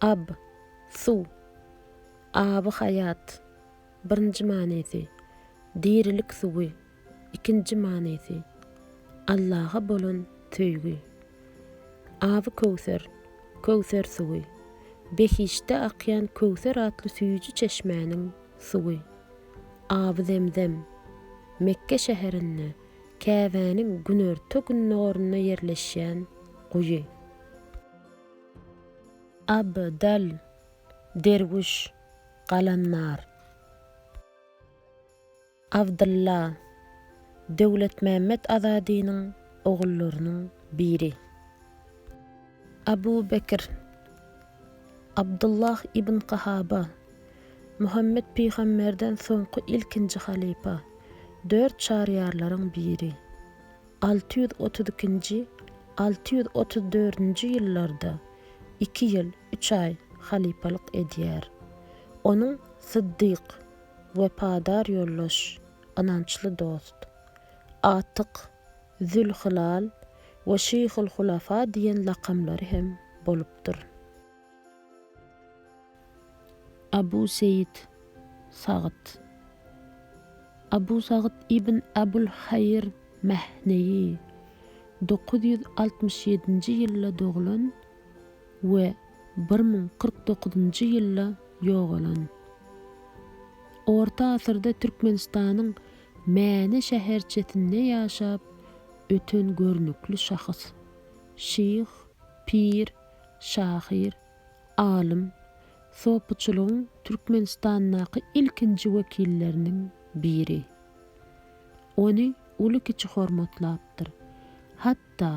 Ab, suw. Aby haýat, birinji manysy, dirilik suwy, ikinji manysy, Allaha bolan söýgi. Aby köwser, köwser suwy, behiştde akýan köwser atly süýji çeşmäniň suwy. Aby zemzem, Mekge şäherinde Käbäniň günorta-gündogarynda ýerleşýän guýy. Abdal, derwüş, galamdar. Abdylla, Döwletmämmet Azadynyň ogullarynyň biri. Abu Bekir, Abdullah ibn Kahaba, Muhammet pygamberden soňky ilkinji halypa, dört çaryýarlaryň biri. Alty ýüz otuz ikinji, alty ýüz otuz dördünji ýyllarda iki ýyl, üç aý halypalyk edýär. Onuň Syddyk, wepadar ýoldaş, ynançly dost, Atyk, Zülhylal we Şyhul Hulafa diýen lakamlary hem bolupdyr. Abu Seýit Sagyt Abu Sagyt ibn Abul Haýyr Mähneýi, dokuz ýüz altmyş ýedinji ýylda doglan we bir müň kyrk dokuzynjy ýylda ýogalan. Orta asyrda Türkmenistanyň Mäne şäherçesinde ýaşap öten görnükli şahys, şyh, pir, şahyr, alym, sopuçylygyň Türkmenistandaky ilkinji wekilleriniň biri. Ony uly-kiçi hormatlapdyr. Hatda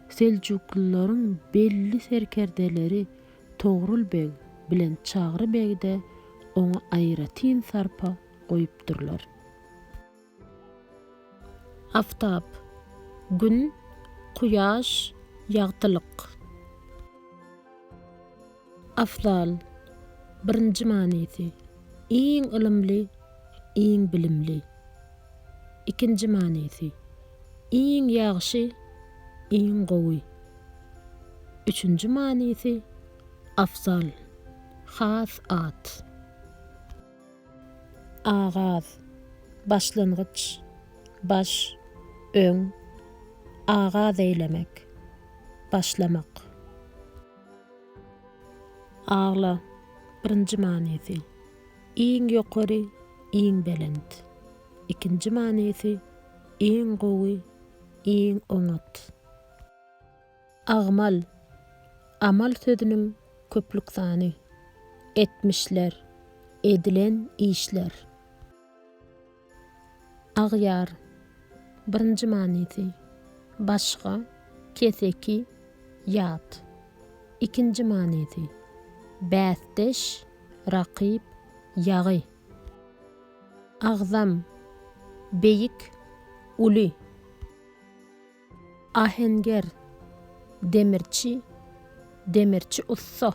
seljuklylaryň belli serkerdeleri Togrul beg bilen Çagry beg-de oňa aýratyn sarpa goýupdyrlar. Aftap, Gün, Kuýaş, Ýagtylyk. Afzal, Birinji manysy, Iň ylymly, iň bilimli. Ikinji manysy, Iň ýagşy, iň gowy. Üçünji manysy, Afzal, has at. Agaz, başlangyç, baş, öň, agaz eýlemek, başlamak. Agla, birinji manysy, iň ýokary, iň belent, ikinji manysy, iň gowy, iň oňat. Agmal, amal sözüniň köplük sany. Etmişler, edilen işler. Agýar, birinji manysy, başga, keseki, ýat. Ikinji manysy, bäsdeş, rakyp, ýagy. Agzam, beýik, uly. Ahenger, demirçi, demirçi ussa.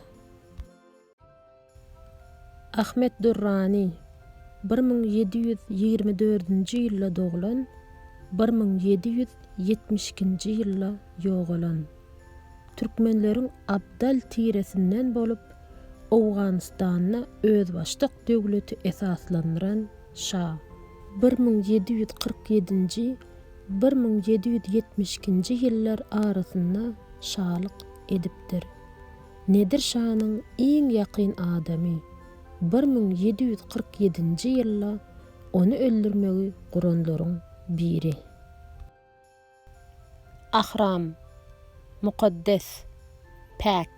Ahmet Durrani, bir müň ýedi ýüz ýigrimi dördünji ýylda doglan, bir müň ýedi ýüz ýetmiş ikinji ýylda ýogalan. Türkmenleriň abdal tiresinden bolup, Owganystanda özbaşdak döwleti esaslandyran şa. Bir müň ýedi ýüz kyrk ýedinji bir müň ýedi ýüz ýetmiş ikinji ýyllar arasynda şalyk edipdir. Nedir şanyň iň ýakyn adamy bir müň ýedi ýüz kyrk ýedinji ýylda ony öldürmegi guranlaryň biri. Ahram, mukaddes, päk.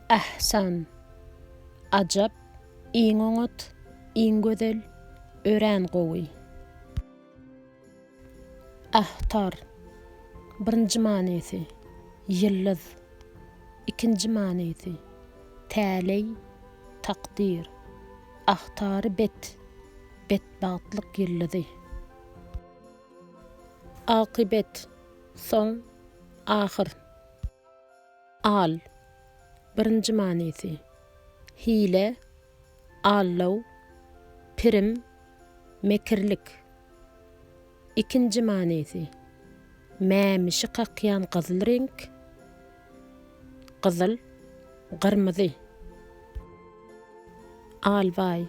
Ähsan. Ajap, iň oňat, iň gözel, örän gowy. Ähtar. Birinji manysy, ýyldyz. Ikinji manysy, täleý, takdyr. Ahtary bet, betbagtlyk ýyldyzy. Akypet, soň, ahyr. Al, birinji manysy, hile, aldaw, pirim, mekirlik. Ikinji manysy, mämişi kakýan gyzyl reňk, gyzyl, gyrmyzy. Albaý.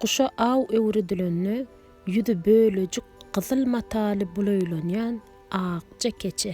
Guşa aw öwredilende ýüzi bölejik gyzyl mataly bulaýlanýan akja keçe.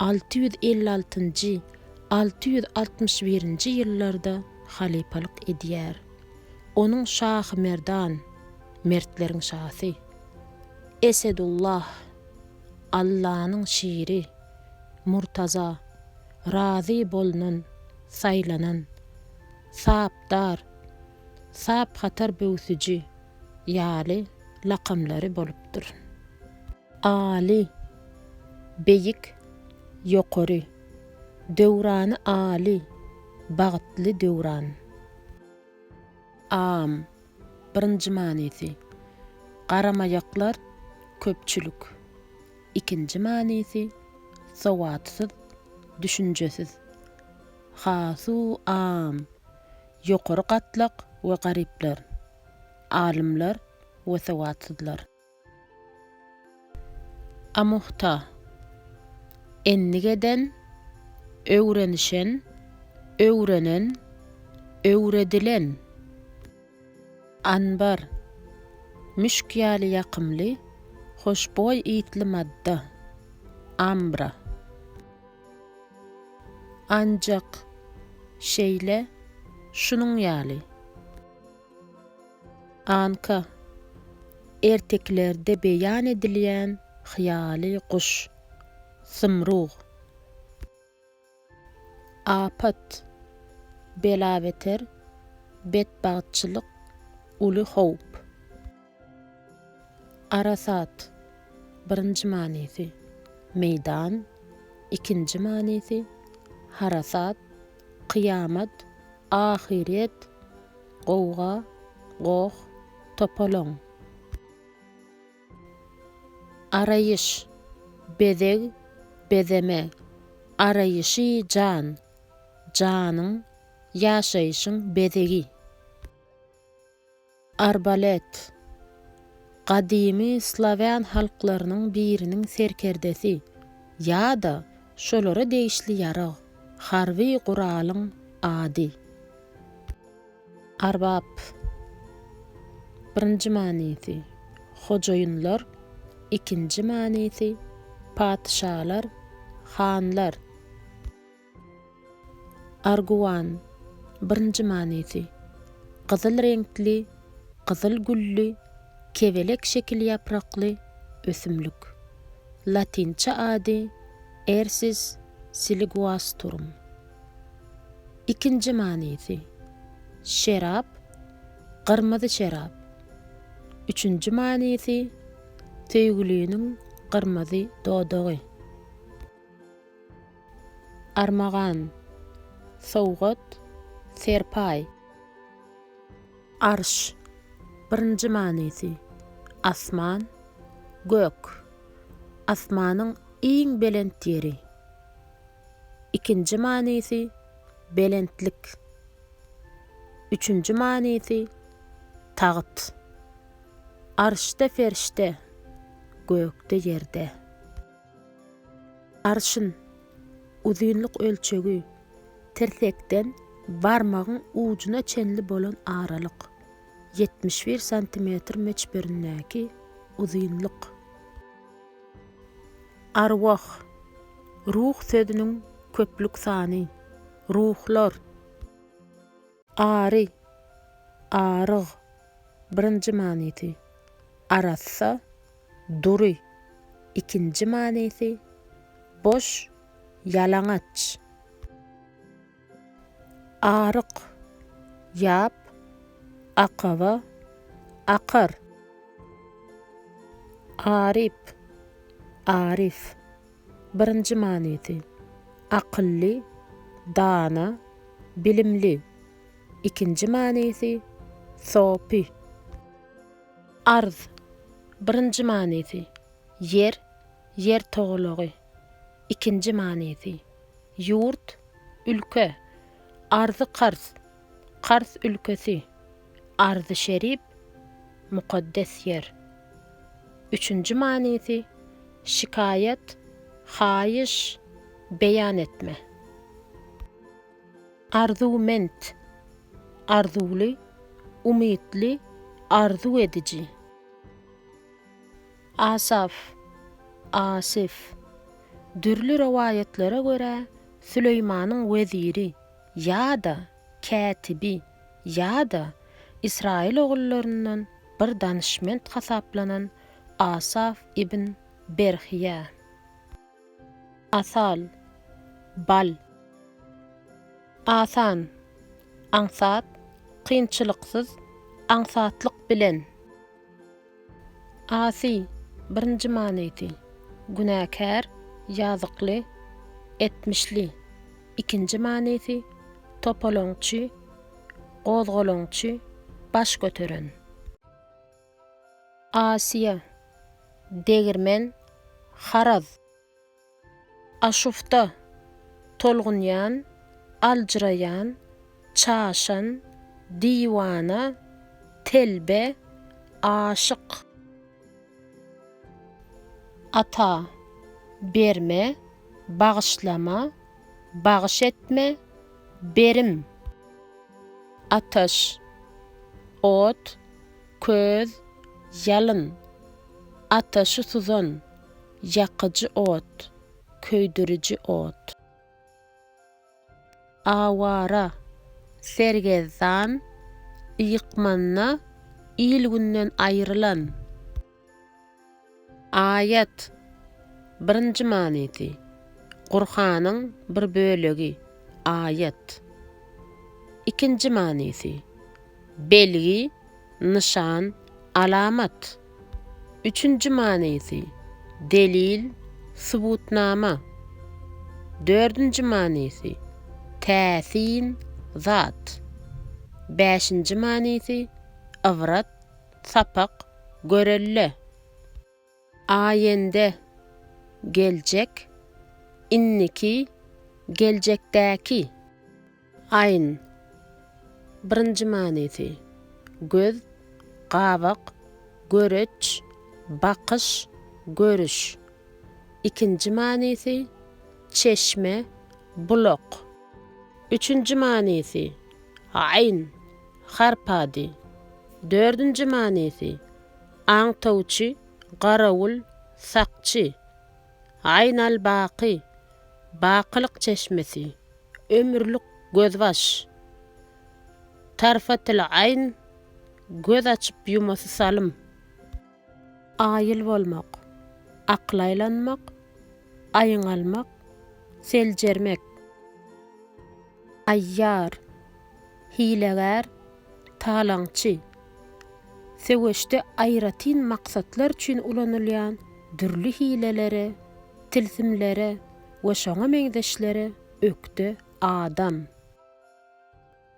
Alty ýüz elli altynjy, alty ýüz altmyş birinji ýyllarda halypalyk edýär. Onuň şahy Merdan, mertleriň şasy, Esedullah, Allanyň şiri, Murtaza, razy bolnan, saýlanan, Sapdar, Saphatar böwsüji, ýaly lakamlary bolupdyr. Aly, beýik, ýokary. Döwrany aly, bagtly döwran. Am, birinji manysy, garamaýaklar, köpçülik. Ikinji manysy, sowatsyz, düşünjesiz. Hasu am, ýokary gatlak we garyplar, alymlar we sowatsyzlar. A muhta, endik eden, öwrenişen, öwrenen, öwredilen. Anbar, müşk ýaly ýakymly, hoşboý ysly madda, ambra. Anjak, şeýle, şunuň ýaly. Anka. Ertekilerde beýan edilýän hyýaly guş. Zymrug. Apat. Bela-beter, betbagtçylyk, uly howp. Arasat. Birinji manysy. Meýdan. Ikinji manysy. Harasat. Kyýamat. Ahyret gowga goh topalaň. Araýyş, bezeg, bezeme, araýyşy jan, janyň, ýaşaýşyň bezegi. Arbalet. Gadymy slawýan halklarynyň biriniň serkerdesi ýa-da şolara degişli ýarag, harby guralyň ady. Arbap. Birinji manysy, hojaýynlar, ikinji manysy, patyşalar, hanlar. Arguwan, birinji manysy, gyzyl reňkli, gyzyl gülli, kebelek şekil ýaprakly ösümlik. Latynça ady Ersis siliguasturum. Ikinji manysy, şerap, gyrmyzy şerap. Üçünji manysy, söýgüliniň gyrmyzy dodagy. Armagan, sowgat, serpaý. Arş, birinji manysy, asman, gök, asmanyň iň belent ýeri. Ikinji manysy, belentlik. Üçünji manysy, tagt. Arşda-perişde, gökde-ýerde. Arşyn, uzynlyk ölçegi, tirsekden barmagyň ujuna çenli bolan aralyk, ýetmiş bir santimetr möçberindäki uzynlyk. Arwah, ruh sözüniň köplük sany, ruhlar. Ary, aryg, birinji manysy, arassa, dury, ikinji manysy, boş, ýalaňaç. Aryk, ýap, akaba, akar. Aryp, aryf, Birinji manysy, Akylly, dana, bilimli. Ikinji manysy, Sopy. Arz. Birinji manysy, Ýer, ýer togalagy. Ikinji manysy, Ýurt, ülke. Arzy-karz. Kars ülkesi, Arzy şerip, mukaddes ýer. Üçünji manysy, şikaýat, haýyş, beýan etme. Arzuwment, arzuwly, umytly, arzuw ediji. Asaf, Asyf. Dürli rowaýatlara görä, Süleýmanyň weziri, ýa-da kätibi ýa-da Ysraýyl ogullaryndan bir danyşment hasaplanan Asaf ibn Berhyýa. Asal, bal. Asan, aňsat, kynçylyksyz, aňsatlyk bilen. Asi, birinji manysy, günäkär, ýazykly, etmişli, ikinji manysy, topalaňçy, gozgalaňçy, baş göteren. Asiýa, degirmen, haraz. Aşufta, tolgunýan, aljyraýan, çaşan, diwana, telbe, aşyk. Ata, berme, bagyşlama, bagyş etme, berim. Ataş, ot, köz, ýalyn. Ataşy suzan. Ýakyjy ot, köýdüriji ot. Awara, sergezdan, ýykmanda il-günden aýrylan. Aýat, birinji manysy, Gurhanyň bir bölegi, aýat. Ikinji manysy, belgi. nyşan, alamat. Üçünji manysy, delil, subutnama. Dördünji manysy, täsin, zat. Bäşinji manysy, ybrat, sapak, görelde. Aýende, geljek, indiki, geljekdäki. Aýn, birinji manysy, göz, gabak, göreç, bakyş, görüş. Ikinji manysy, çeşme, bulak. Üçünji manysy, aýn, harp ady. Dördünji manysy, Aňtawçy, garawul, sakçy. Aýnalbaky, bakylyk çeşmesi, ömürlik gözbaş. Tarfatylaýn, göz açyp-ýumasy salym. Aýyl bolmak, akyl aýlanmak, aýyň almak, seljermek. Aýýar, hilegär, Talaňçy. Söweşde aýratyn maksatlar üçin ulanylýan dürli hilelere, tilsimlere we şoňa meňzeşlere ökde adam.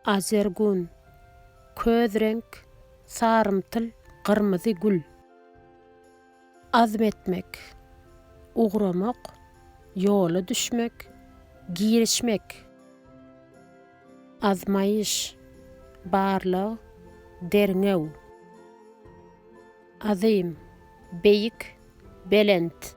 Azergun. Köz reňk, sarymtyl, gyrmyzy gül. Azm etmek, ugramak, ýola düşmek, girişmek. Azmaýyş, barlag, derňew. Azym, beýik, belent.